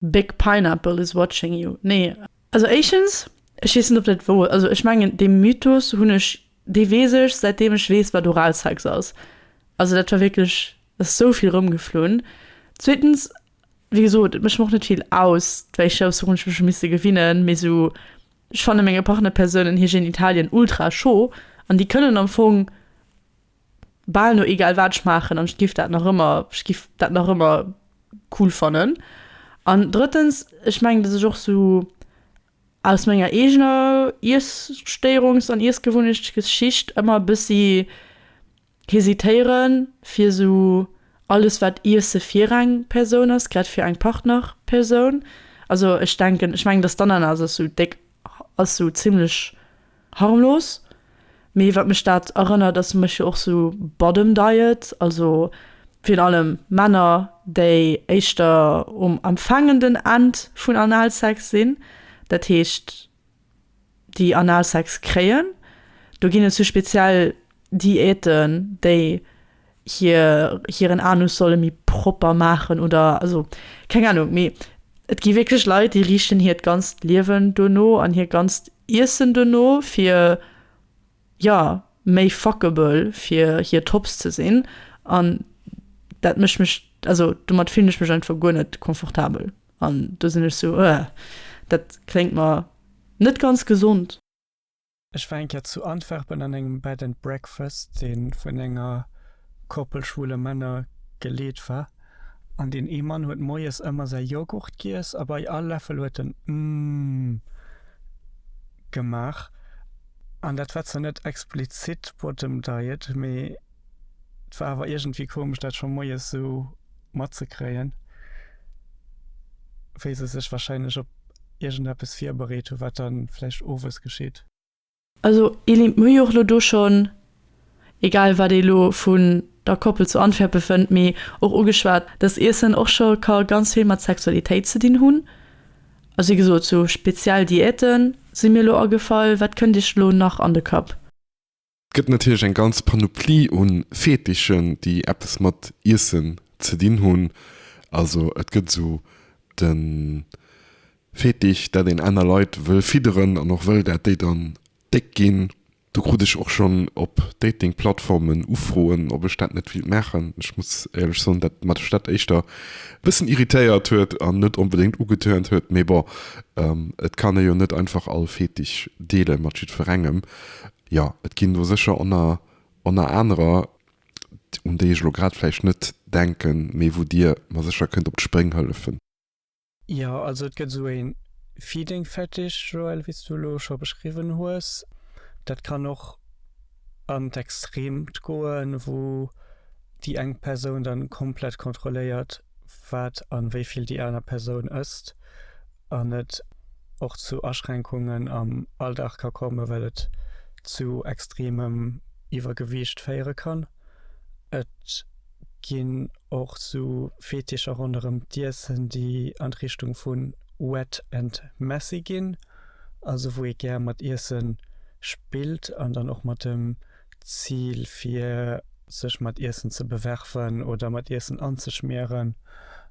Big Pineapple is watching you, nee. Also éischens, ech weess net op dat wouer, also ech mengen dee Mythos hunn ech, dee weess ech säit deem ech weess wat Oralsex ass, also dat war wierklech, dat ass esou vill erëmgeflunn. Zweetens, wéi gesot, et mécht mer och net vill aus, wéi ech aus wourun ech mech hu misste gewinnen, mee esou, ech fanne menge Partnerpersounen hir Genitalien ultra scho an déi kënnen am Fong bal no egal wat ech maachen an ech giff dat nach ëmmer, ech giff dat nach ëmmer cool fannen. An drëttens, ech mengen, dass ech och sou aus menger eegener Iesstéierungs an Iessgewunnechtgeschicht ëmmer e bëssi hesitéieren, fir sou alles wat Iesse fir eng Persoun ass, grad fir eng Partnerpersoun, also ech denken, ech mengen, dass d'Ananas ass sou déck ass sou zimlech harmlos, mee wat mech dat erënnert ass, mécht jo och sou Bottom Diet, also virun allem Männer, déi éischter um empfaangenden End vun Analsex sinn, dat heescht déi Analsex kréien. Do ginn et sou speziell Diäten, déi hiren Anus solle méi propper maachen oder also keng Anung. Mee et gi wierklech Leit, déi riichten hiert ganzt Liewen duerno an hiert ganzt Iessen duerno, fir jo méi fuckable fir hir Tops ze sinn. An dat mécht mech, also domat fillen ech mech einfach guer net confortabel. An do sinn ech sou, Ëh, dat kléngt mer net ganz gesond. Ech war eng Kéier zu Antwerpen an engem Bed and Breakfast, dee vun enger Koppel schwule Männer geleet war. An deen ee Mann huet moies ëmmer säi Yoghurt giess a bei all Läffel huet en Umm gemaach. An dat war zwar net explizit Bottom Diet, mee et war awer iergendwéi komesch, dat scho moies esou matzekréien, wéi se sech wahrscheinlech op iergendeppes virbereet hu wat da vläicht owes geschitt. Also Eline, mir hu jo och elo do schonn, egal wat ee elo vun der Koppel zu Antwerpen fënnt, mee och ugeschwat, datt Iessen och scho ka ganz vill mat Sexualitéit ze dinn hunn. Also wéi gesot, sou speziell Diäte si mir elo agefall. Wat kënnt Iech elo nach an de Kapp? Et gëtt natierlech eng ganz Panoplie u Fetichen, déi eppes mat Iessen ze dinn hunn. Also et gëtt esou de Fetisch, datt een aner Leit wëll fidderen an och wëll, datt déi dann déck ginn. Do krut ech och schonn op Dating-Plattformen Ufroen, ob ech dat net wéilt maachen. Ech muss éierlech soen, datt mech dat éischter e bëssen irritéiert huet an net onbedéngt ugetörnt huet. Mee bon, et kann ee jo net einfach all Fetisch deele mat jiddwerengem. Jo, et ginn do sécher ënner ënner anerer, un déi ech elo grad vläicht net denken, mee wou Dir mer sécher kënnt op d'Spréng hëllefen. Jo, also et gëtt esou ee Feeding Fetish, Joël, wéi s du elo scho beschriwwen hues. Dat kann och an d'Extreemt goen, wou déi eng Persoun dann komplett kontrolléiert, wat an wéi vill déi aner Persoun ësst. an et och zu Aschränkungen am Alldag ka kommen, well et zu extremem Iwwergewiicht féiere kann. Et ginn och sou Fetischer ronderëm d'Iessen, déi an d'Richtung vu wet and messy ginn, also wou ee gär mat Iesse spillt an dann och mat dem D'Zil fir sech mat Iessen ze bewerfen oder mat Iessen anzeschmieren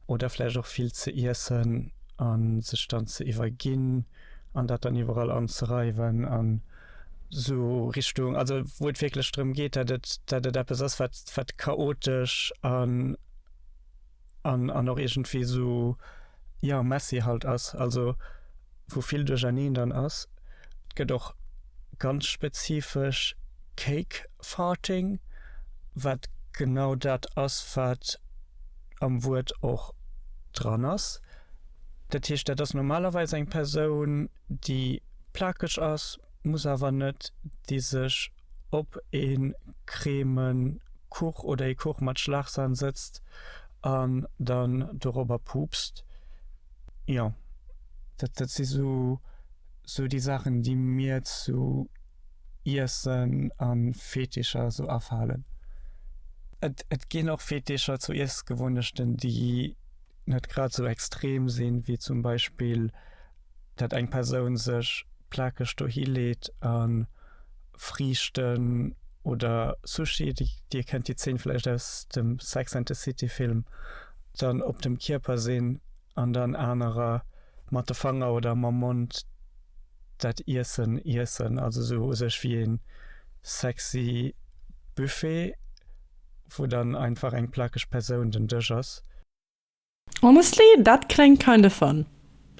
oder vläicht och vill ze iessen a sech dann ze iwwerginn an dat dann iwwerall anzereiwen an esou Richtung, also wou et wierklech drëm geet, dat et eppes ass, wat chaotesch a. an an och iergendwéi sou ja messy halt ass, also wou vill duercherneen dann ass. Gëtt och ganz spezifesch Cake Farting, wat genau dat ass wat am Wuert och dran ass. Dat heescht dat ass normalerweis eng Persoun déi plakeg ass, muss awer net, déi sech ob ee Crèmen Kuch oder ee Kuch mat Schlagsahn sëtzt an dann dorobber puupst. Jo, dat, dat si sou, sou déi Saachen, déi mir zu Iessen a Fetischer sou afalen. Et, et ginn och Fetischer zu Iessgewunnechten, déi net grad sou extrem sinn, wéi zum Beispill. Datt eng Persoun sech plakeg dohi leet a Friichten oder Sushi, Dir kennt déi Zeen vläicht aus dem Sex and the City Film, dann op dem Kierper sinn an dann anerer mat de Fanger oder mam Mond dat Iessen iessen. Also esou u sech wéi ee sexy Buffet, wou dann einfach eng plakeg Persoun den Dësch ass. Honestly, dat kléngt kind of fun.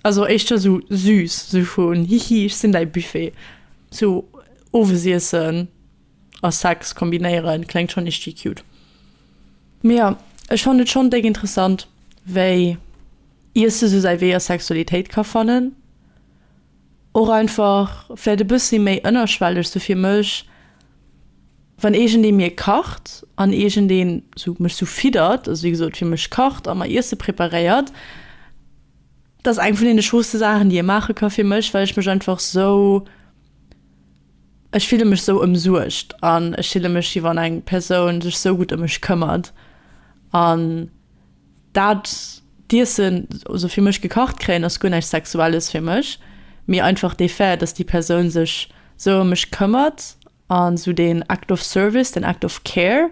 Also éischter sou süß, sou vun hihi ech sinn däi Buffet. Sou Owesiessen a Sex kombinéieren kléngt schonn ischti cute. Mee jo, ech fannen et schonn dék interessant wéi Iesse sou säi Wee a Sexualitéit ka fannen. Och einfach vläit e bëssi méi ënnerschwelleg, sou fir mech. Wann iergendee mir kacht an iergendee sou mech sou fiddert, also wéi gesot fir mech kacht a mer Iesse preparéiert, dat ass eng vun deene schooste Saachen déi ee maache ka fir mech, well ech mech einfach sou, ech fille mech sou ëmsuergt an ech fille mech wéi wann eng Persoun sech sou gutt ëm mech këmmert an Dat d'Iessen, also fir mech gekacht kréien, ass guer näischt Sexuelles fir mech, mee einfach dee Fait, dass déi Persoun sech sou ëm mech këmmert a sou deen Act of Service, deen Act of Care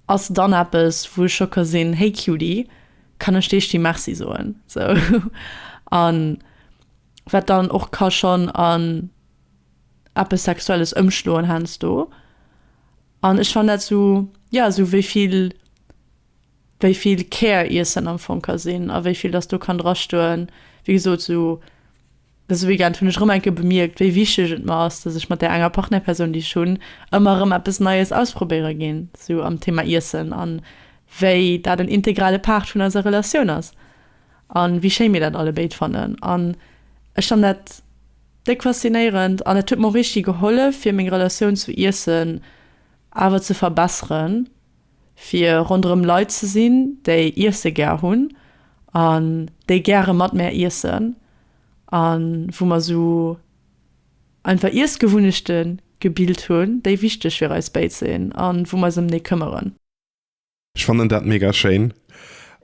ass dann eppes, wou ech scho ka sinn, Hey Cutie, kann ech dir sti Merci soen? Sou. A wat dann och ka schonn an eppes Sexuelles ëmschloen heiansdo. An ech fannen dat sou, ja, sou wéi vill wéi vill Kär Iessen am Fong ka sinn a wéi vill dass do kann drastoen. Wéi gesot, esou dëse Weekend hunn ech erëm eng Kéier bemierkt, wéi wichteg et mer ass, dass ech mat där enger Partnerpersoun, déi ech hunn, ëmmer erëm eppes Neies ausprobéiere ginn, esou am Thema Iessen, a wéi dat en integrale Part vun eiser Relatioun ass a wéi schéi mir dat alle béid fannen. An ech fannen dat déck faszinéierend an et huet mer och richteg gehollef, fir meng Relatioun zu Iessen awer ze verbesseren. fir ronderëm Leit ze sinn, déi iesse gär hunn an déi gäre mat mär iessen a wou mer esou einfach Iessgewunnechte gebilt hunn, déi wichteg fir eis béid sinn a wou mer eis ëm déi këmmeren. Ech fannen dat mega schéin.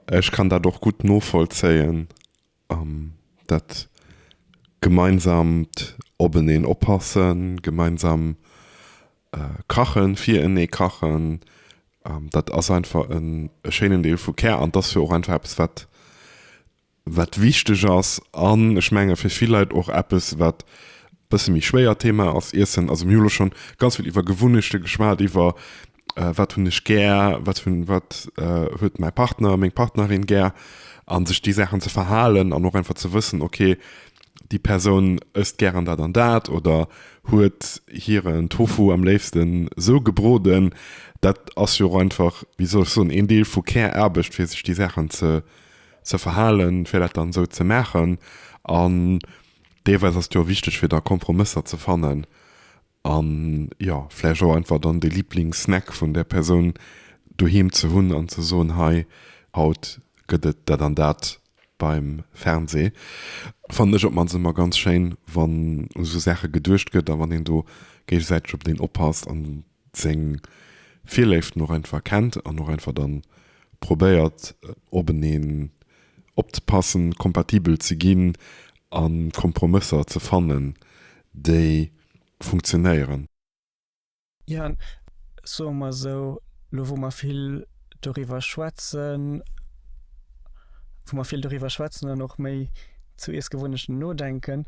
Ech kann dat och gutt novollzéien. An dat gemeinsamt Openeen oppassen, gemeinsam kachen, firenee kachen, dat ass einfach e schéinen Deel vu Care an t'ass jo och einfach eppes wat wat wichteg ass. An ech menge fir vill Leit och eppes wat e bësse méi schwéier Thema ass, Iessen. Also mir hu lo schonn ganz vill iwwer Gewunnechte geschwat, iwwer wat hunn ech gär, wat hunn, wat huet mäi Partner, meng Partnerin gär an sech déi Saachen ze verhalen an och einfach ze wëssen, okay, déi Persoun ësst gären dat an dat oder huet hiren Tofu am léifsten sou gebroden. Dat ass jo och einfach, wéi soll ech soen, een Deel vu Care-Aarbecht, fir sech déi Saachen ze, ze verhalen, fir dat dann esou ze maachen an deelweis ass et jo och wichteg, fir da Kompromësser ze fannen An jo, vläicht och einfach dann de Liblingssnack vun där Persoun doheem ze hunn an ze soen, hei, haut gëtt et dat an dat beim Fernseh. Fannen ech op d'mannst ëmmer ganz schéin, wann u esou Saache geduecht gëtt a wann een do géigesäiteg op deen oppasst an seng Virléiften och einfach kennt an och einfach dann probéiert, op en ee opzepassen, kompatibel ze ginn a Kompromësser ze fannen, déi funktionéieren. Jaan, soe mer esou, elo wou mer vill doriwwer schwätzen, wou mer vill doriwwer schwätzen an och méi zu Iessgewunnechten nodenken,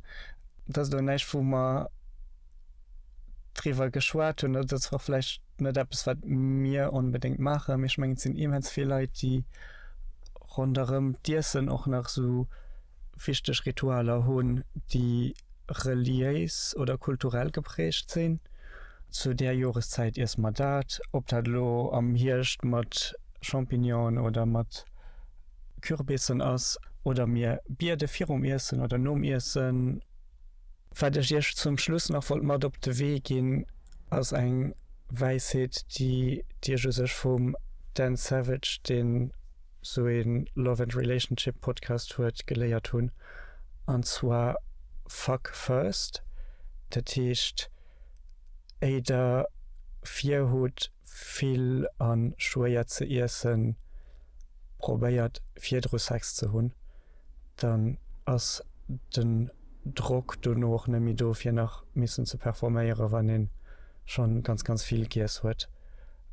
dat ass elo näischt wou mer, driwwer geschwat hunn, dat ass och vläicht net eppes, wat mir onbedéngt maachen, mee ech mengen, et sinn immens vill Leit, déi ronderëm d'Iessen och nach esou wichteg Ritualer hunn, déi reliéis oder kulturell geprägt sinn. Zu där Joreszäit iesse mer dat. Ob dat elo am Hierscht mat Champignonen oder mat Kürbissen ass oder mir biede virum Iessen oder nom Iessen. Wat ech iech zum Schluss nach wollt mat op de Wee ginn, ass eng Wäisheet, déi déi ech u sech vum Dan Savage, deen esou ee Love and Relationship Podcast huet, geléiert hunn, an zwar, Fuck first, dat heescht, éi der virhutt vill a schwéier ze iessen, probéiert virdru Sex ze hunn. dann ass den Drock dono och net méi do fir nach missen ze performéieren, wann een schonn ganz ganz vill giess huet,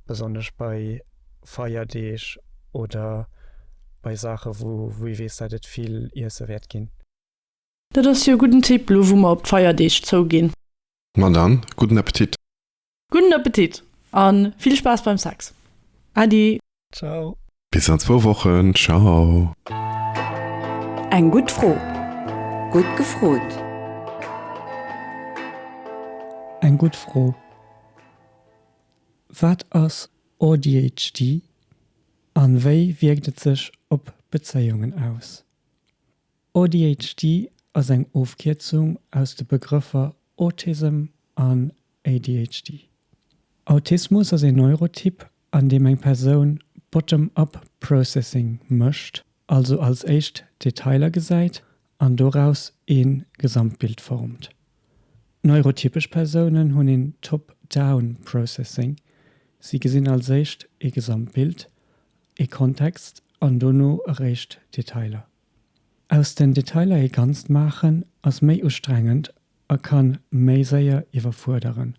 besonnesch bei Feierdeeg oder bei Saachen wou ee weess dat et vill Iessen wäert ginn. Dat ass jo e gudden Tipp, lo wou mer op d'Feierdeeg zouginn. Ma dann, gudden Appetit! Gudden Appetit an vill Spaass beim Sex! Ady. Ciao. Bis an zwou Wochen, ciao. Eng gutt Fro, gutt gefrot. Eng gutt Fro, Wat ass ADHD a wéi wierkt et sech op Bezéiungen aus? ADHD ass eng Ofkierzung aus de Begrëffer Autism an ADHD. Autismus ass een Neurotyp, an deem eng Persoun bottom-up processing mécht, also als éischt d'Detailer gesäit an doraus ee Gesamtbild formt. Neurotypesch Persounen hunn een top-down processing, si gesinn als éischt ee Gesamtbild, ee Kontext an dono eréischt d'Detailer. Aus den Detailer ee Ganzt maachen ass méi ustrengend A kann méi séier iwwerfuerderen.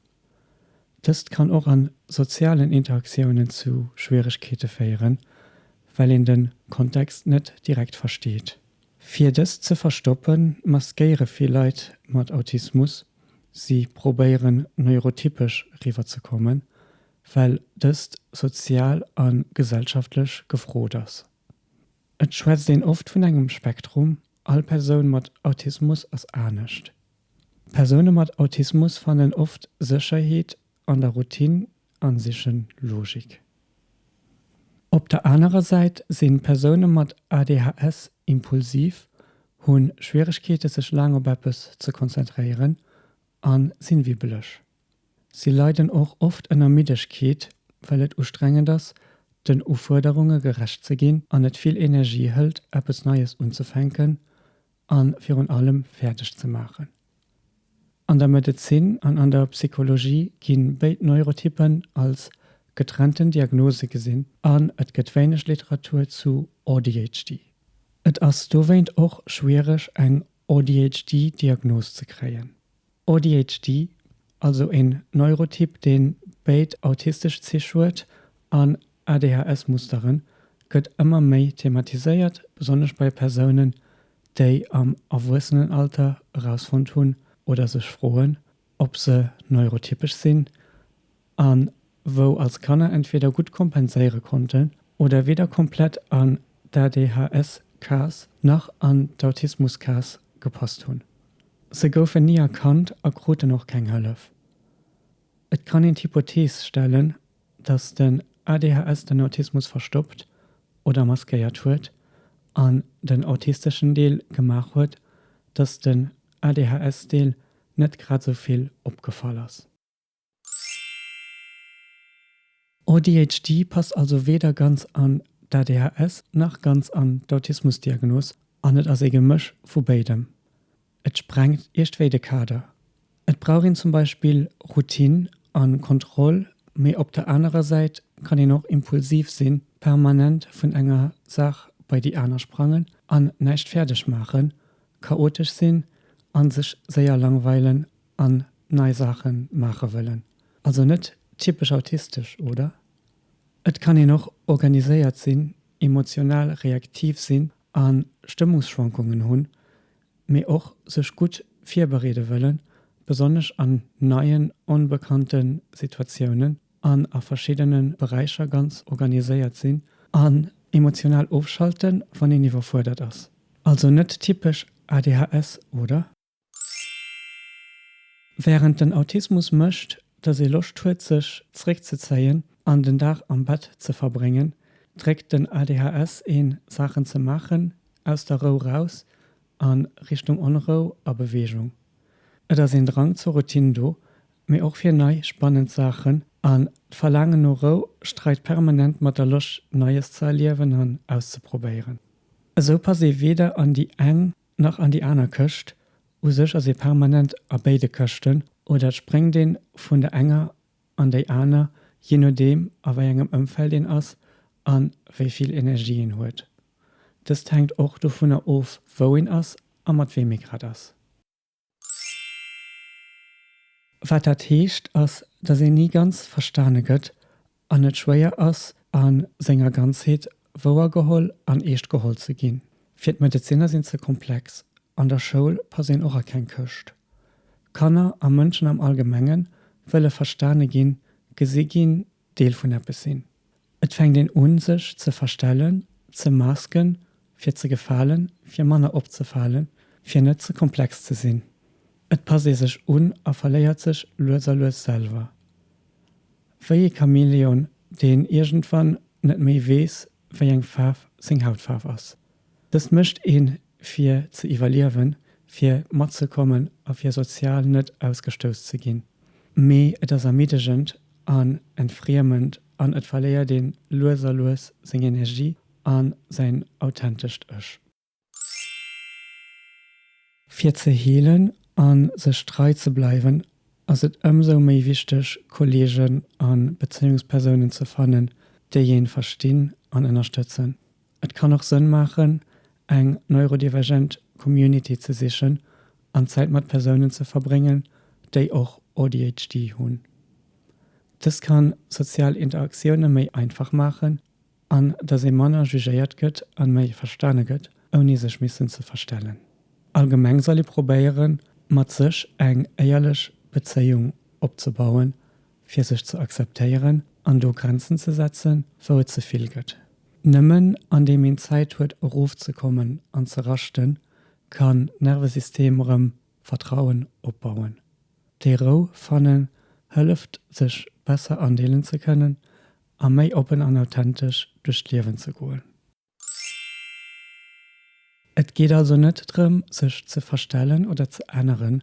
Dëst kann och an sozialen Interaktiounen zu Schwieregkeete féieren, well een den Kontext net direkt versteet. Fir dëst ze verstoppen, maskéiere vill Leit mat Autismus, si probéieren neurotypesch riwwer ze kommen, well dëst sozial an gesellschaftlech gefrot ass. Et schwätzt een oft vun engem Spektrum, all Persoun mat Autismus ass anescht. Persoune mat Autismus fannen oft Sécherheet an der Routine a siche Logik. Op der anerer Säit si Persoune mat ADHS impulsiv, hu Schwieregkeete sech laang op eppes ze konzentréieren a sinn wibbeleg. Si leiden och oft ënner Middegkeet, well et ustrengend ass, den Ufuerderunge gerecht ze ginn an et vill Energie hëlt, eppes Neies unzefänken a virun allem fäerdeg ze maachen. An der Medezin an an der Psychologie gi béid Neurotyppen als getrennten Diagnose gesinn an et gëtt wéineg Literatur zu ADHD. Et ass dowéint och schwiereg, eng ADHD-Diagnos ze kréien. ADHD, also een Neurotyp deen béid autistesch Zich huet an ADHS-Musteren, gëtt ëmmer méi thematiséiert, besonnesch bei Persounen, déi am Erwuessenenalter erausfonnt hunn oder sech froen, ob se neurotypesch sinn an wou als Kanner entweder gutt kompenséiere konnten oder weder komplett an d'ADHS-Kaass nach an d'Autismus-Kaass gepasst hunn. Se goufen ni erkannt a kruten och keng Hëllef. Et kann een d'Hypothees stellen, dass den ADHS den Autismus verstoppt oder maskéiert huet an den autisteschen Deel gemaach huet, dass den ADHS-Deel net grad esou vill opgefall ass. ADHD passt also weder ganz an d'ADHS nach ganz an d'Autismus-Diagnos an et ass ee Gemësch vu béidem. Et sprengt iergdwéi de Kader. Et brauch een zum Beispill Routine a Kontroll, mee op der anerer Säit kann een och impulsiv sinn, permanent vun enger Saach bei déi aner sprangen an näischt fäerdeg maachen, chaotesch sinn a sech séier langweilen an nei Saache maache wëllen. Also net typesch autistesch, oder? Et kann een och organiséiert sinn, emotional reaktiv sinn a Stëmmungsschwankungen hunn, mee och sech gutt virbereede wëllen, besonnesch an neien, onbekannte Situatiounen, an a verschiddene Beräicher ganz organiséiert sinn an emotional ofschalten, wann een iwwerfuerdert ass. Also net typesch ADHS, oder? Wärend den Autismus mécht, dass ee Loscht huet sech zeréckzezéien an den Dag am Bett ze verbréngen, dréckt den ADHS een, Saachen ze maachen, aus der Rou raus a Richtung Onrou a Beweegung. Et ass een Drang zur Routine do, mee och fir nei, spannend Saachen, an d'Verlaangen no Rou streit permanent mat der Loscht Neies ze erliewen an auszeprobéieren. Esou passt ee weder an déi eng nach an déi aner Këscht, u sech ass ee permanent a béide Këschten, oder et spréngt een vun der enger an déi aner, jee nodeem a wei engem Ëmfeld een ass a wéi vill Energie een huet. Dëst hänkt och dovunner of, wou een ass a mat weem ee grad ass. Wat dat heescht ass, dass een ni ganz verstane gëtt an et schwéier ass a senger Ganzheet wouer geholl an eescht geholl ze ginn. Fir d'Medezinner sinn ze komplex. An der Schoul pass een och a keng Këscht. Kanner a Mënschen am Allgemenge wëlle verstane ginn, gesi ginn, Deel vun eppes sinn. Et fänkt een un sech ze verstellen, ze masken, fir ze gefalen, fir manner opzefalen, fir net ze komplex ze sinn. Et passt ee sech un a verléiert sech lues a lues selwer. Wéi ee Chamäleon, deen iergendwann net méi weess, wéi eng Faarf seng Hautfaarf ass. Dëst mécht een, fir ze iwwerliewen, fir matzekommen a fir sozial net ausgestouss ze ginn. Mee et ass ermiddegend an entfriemend an et verléiert ee lues a lues seng Energie a säin authentescht Ech. Fir ze heelen a sech trei ze bleiwen, ass et ëmsou méi wichteg, Kolleegen a Bezéiungspersounen ze fannen, déi een verstinn an ënnerstëtzen. Et kann och Sënn maachen, eng neurodivergent Community ze sichen an Zäit mat Persounen ze verbréngen, déi och ADHD hunn. Dëst ka sozial Interaktioune méi einfach maachen an dass ee manner jugéiert gëtt a méi verstane gëtt, ouni sech missen ze verstellen. Allgemeng soll ee probéieren, mat sech eng éierlech Bezéiung opzebauen fir sech ze akzeptéieren an do Grenzen ze setzen, wou et ze vill gëtt. Nëmmen andeem een Zäit huet erofzekommen an ze raschten, kann d'Nervesystem erëm Vertrauen opbauen. Déi Rou fannen hëlleft sech besser andeelen ze kënnen a méi oppen an authentesch duerch d'Liewen ze goen. Et geet also net drëm sech ze verstellen oder ze änneren,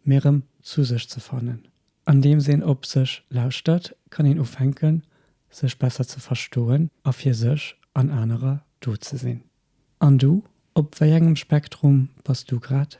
mee erëm zu sech ze fannen. Andeems een op sech lauschtert, kann een ufänken sech besser ze verstoen a fir sech an anerer do ze sinn. An du, op wéi engem Spektrum bass du grad?